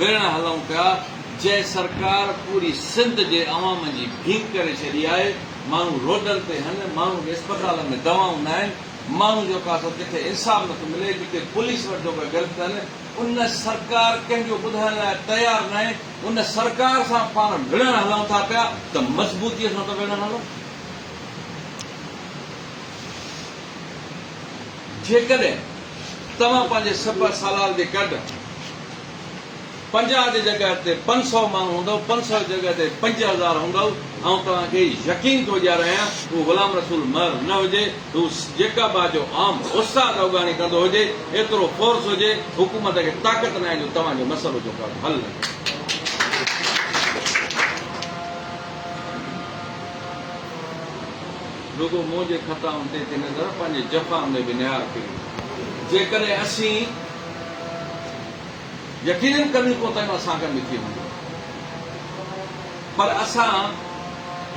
ويڙهه هلون پيا جنهن سرڪار پوري سنڌ جي عوام جي ڀينگ ڪري ڇڏي آهي ماڻهو روڊن تي هن ماڻهو کي اسپتالن ۾ دوائون ناهن ماڻهو جو ڪا سو ڪٿي انصاف نٿو ملي ڪٿي پوليس وٽ جو ڪا گرد تن ان سرڪار ڪنهن جو ٻڌائڻ لاء تيار ناهي ان سرڪار سان پاڻ وڙهڻ هلون ٿا پيا ته مضبوطي سان ته وڙهڻ هلون جيڪڏهن توهان پنهنجي سپهه سالار جي گڏ پنجاهه جي جڳهه تي پنج سؤ ماڻهو هوندؤ، پنج سؤ جي جڳهه تي پنج هزار هوندؤ، آئون توهان کي يقين ٿو ڏياريان، هو غلام رسول مهر نه هجي، هو جيڪب آ جو عام استاد اوڳاڻي ڪندو هجي، ايترو فورس هجي، حڪومت کي طاقت ناهي جو توهان جو مسئلو جو ڪا به حل نه ڪري. رڳو منهنجي خطائن تي ٿي نظر، پنهنجي جفائن ۾ به نهار ڦري. جيڪڏهن اسين يقينن ڪميون ڪوتاهيون اسان کان به ٿي هونديون پر اسان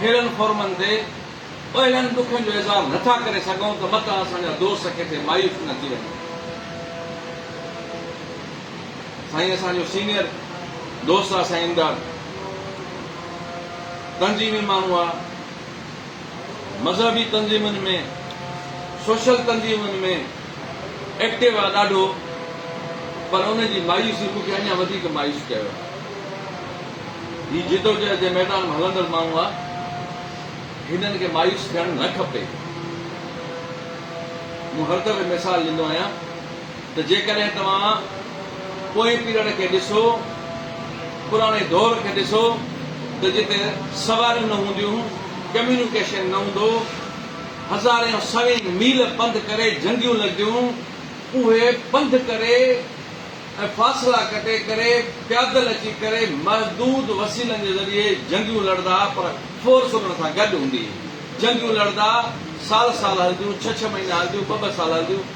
ههڙن فورمن تي اهڙن ڏکن جو اظهار نه ٿا ڪري سگهون ته متان اسان جا دوست ڪٿي مايوس نه ٿي وڃن. سائين اسان جو سينيئر دوست آ سائين امداد تنظيمي ماڻهو آ. مذهبي تنظيمن ۾ سوشل تنظيمن ۾ ايڪٽو آ ڏاڍو پر ان جي مايوسي مون کي اڃا وڌيڪ مايوس ڪيو آ هي جدوجهد جي ميدان ۾ هلندڙ ماڻهو آ هنن کي مايوس ٿيڻ نه کپي مون هر دفعي مثال ڏيندو آهيان ته جيڪڏهن توهان پوئين پيريڊ کي ڏسو، پراڻي دور کي ڏسو ته جتي سواريون نه هونديون، ڪميونيڪيشن نه هوندو، هزارين سوين ميل پنڌ ڪري جنگيون لڳديون، اهي پنڌ ڪري ۽ فاصلا ڪٽي ڪري، پيادل اچي ڪري محدود وسيلن جي ذريعي جنگيون لڙدا پر فورس انهن سان گڏ هوندي هئي. جنگيون لڙدا سال سال هلنديون، ڇهه ڇهه مهينا هلنديون، ٻه ٻه سال هلنديون.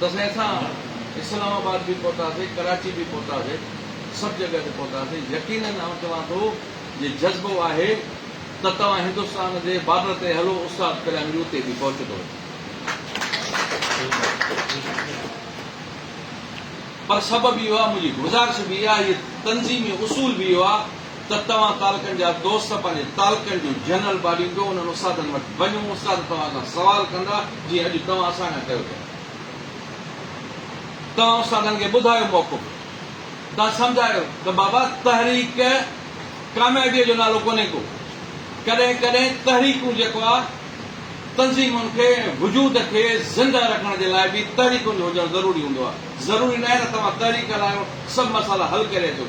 بس اسان اسلام آباد به پهتاسين ڪراچي به پهتاسين سڀ جڳهه تي پهتاسين يقينن آئون چوان ٿو جي جذبو آهي ته توهان هندستان جي بارڊر تي هلو استاد ڪليان جي اتي به پهچندو پر سبب اهو آهي منهنجي گذارش به اها آهي تنظيمي اصول به اهو آهي ته توهان تعلقن جا دوست پنهنجي تعلقن جون جنرل ٻاريندو انهن استادن وٽ وڃو استاد توهان کان سوال ڪندا جيئن اڄ توهان اسان کان ڪيو ٿا توهان استادن کي ٻڌايو موقعو ملي توهان سمجهايو ته بابا تحريڪ ڪاميابيء جو نالو ڪونهي ڪو ڪڏهن ڪڏهن تحريڪون جيڪو آ تنظيمن کي ۽ وجود کي زنده رکڻ جي لاء به تحريڪن جو هجڻ ضروري هوندو آ ضروري ناهي ته توهان تحريڪ هلايو سڀ مسئلا حل ڪري اچو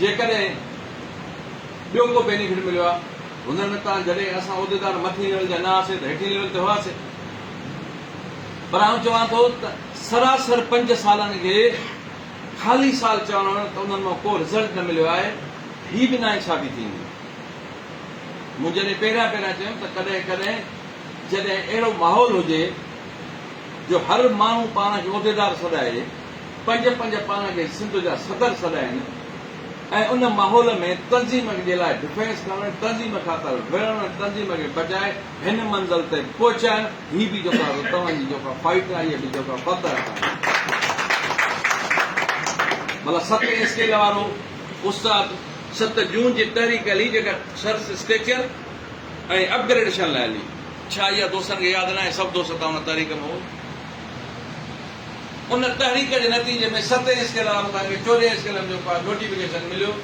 جيڪڏهن ٻيو ڪو بينيفٽ مليو آ هونئن نه تان جڏهن اسان عهديدار مٿين ليول جا نه هئاسين ته هيٺين ليول تي هئاسين پر آئون چوان ٿو ته سراسر پنج سالن کي خالي سال چوڻ ته انهن مان ڪو رزلٽ نه مليو آهي هي به ناانصافي ٿيندي مون جڏهن پهريان پهريان چيم ته ڪڏهن ڪڏهن جڏهن اهڙو ماحول هجي جو هر ماڻهو پاڻ کي عهديدار سڏائي پنج پنج پاڻ کي سنڌ جا صدر سڏائين ۽ ان ماحول ۾ تنظيم جي لاء ڊفينس کڻڻ، تنظيم خاطر وڙهڻ ۽ تنظيم کي بچائي هن منزل تي پهچائڻ هي به جيڪا توهان جي جيڪا فائيٽ آهي اها به جيڪا فتح آهي. ڀلا ست اسڪيل وارو استاد ست جون جي تحريڪ هلي جيڪا سرس اسٽيچر ۽ اپ گريڊيشن لاء هلي ڇا اها دوستن کي ياد ناهي سڀ دوست تان ان تحريڪ ۾ هئو. ان تحريڪ جي نتيجي ۾ ستين اسڪيل آف اسان کي چورين اسڪيلن جو ڪا نوٽيفڪيشن مليو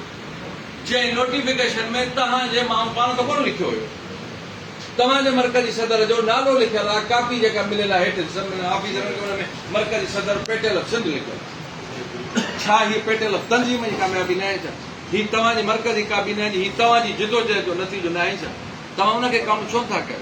جنهن نوٽيفڪيشن ۾ توهان جي ماڻهو پاڻ ته ڪونه لکيو هيو توهان جي مرڪزي صدر جو نالو لکيل آ ڪاپي جيڪا مليل آ هيٺ ڏسن منهن آفيسرن کي ان ۾ مرڪزي صدر پيٽيل آف سنڌ لکيل آ ڇا هي پيٽيل آف تنظيم جي ڪاميابي ناهي ڇا هي توهان جي مرڪزي ڪابينا جي هي توهان جي جدوجهد جو نتيجو ناهي ڇا توهان ان کي ڪائونٽ ڇو نٿا ڪيو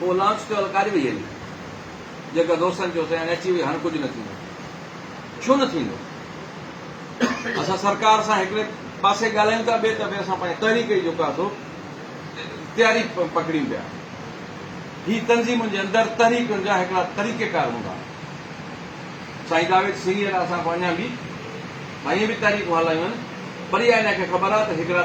هوء لانچ تي الڪاري وئي هلي. جيڪر دوستن چيو سياڻي اچي وئي هاڻ ڪجهه نه ٿيندو. ڇو نه ٿيندو؟ اسان سرڪار سان هڪڙي پاسي ڳالهايون ٿا ٻئي طرفي اسان پنهنجي تحريڪ جي جيڪو آهي سو تياري پڪڙيون پيا. هي تنظيمن جي اندر تحريڪن جا هڪڙا طريقيڪار هوندا آهن. سائين جاويد سينيئر اسان کان اڃا به سائين به تحريڪون هلايون آهن پر اها ان کي خبر آهي ته هڪڙا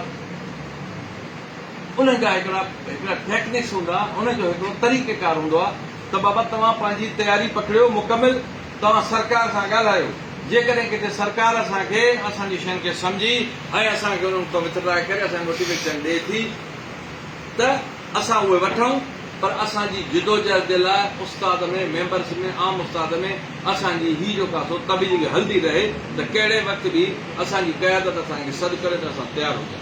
انهن جا هڪڙا هڪڙا ٽيڪنڪس هوندا انهن جو هڪڙو طريقه ڪار هوندو آ ته بابا توهان پنهنجي تياري پڪڙيو مڪمل توهان سرڪار سان ڳالهايو جيڪڏهن ڪٿي سرڪار اسان کي اسان جي شين کي سمجهي ۽ اسان کي انهن اتان وٿڊرا ڪري اسان کي موٽيويشن ڏي ٿي ته اسان اهي وٺون پر اسان جي جدوجهد جي لاء استاد ۾ ميمبرس ۾ عام استاد ۾ اسان جي هي جو ڪاسو تبليغ هلندي رهي ته ڪهڙي وقت به اسان جي قيادت اسان کي سڏ ڪري ته اسان تيار هجون.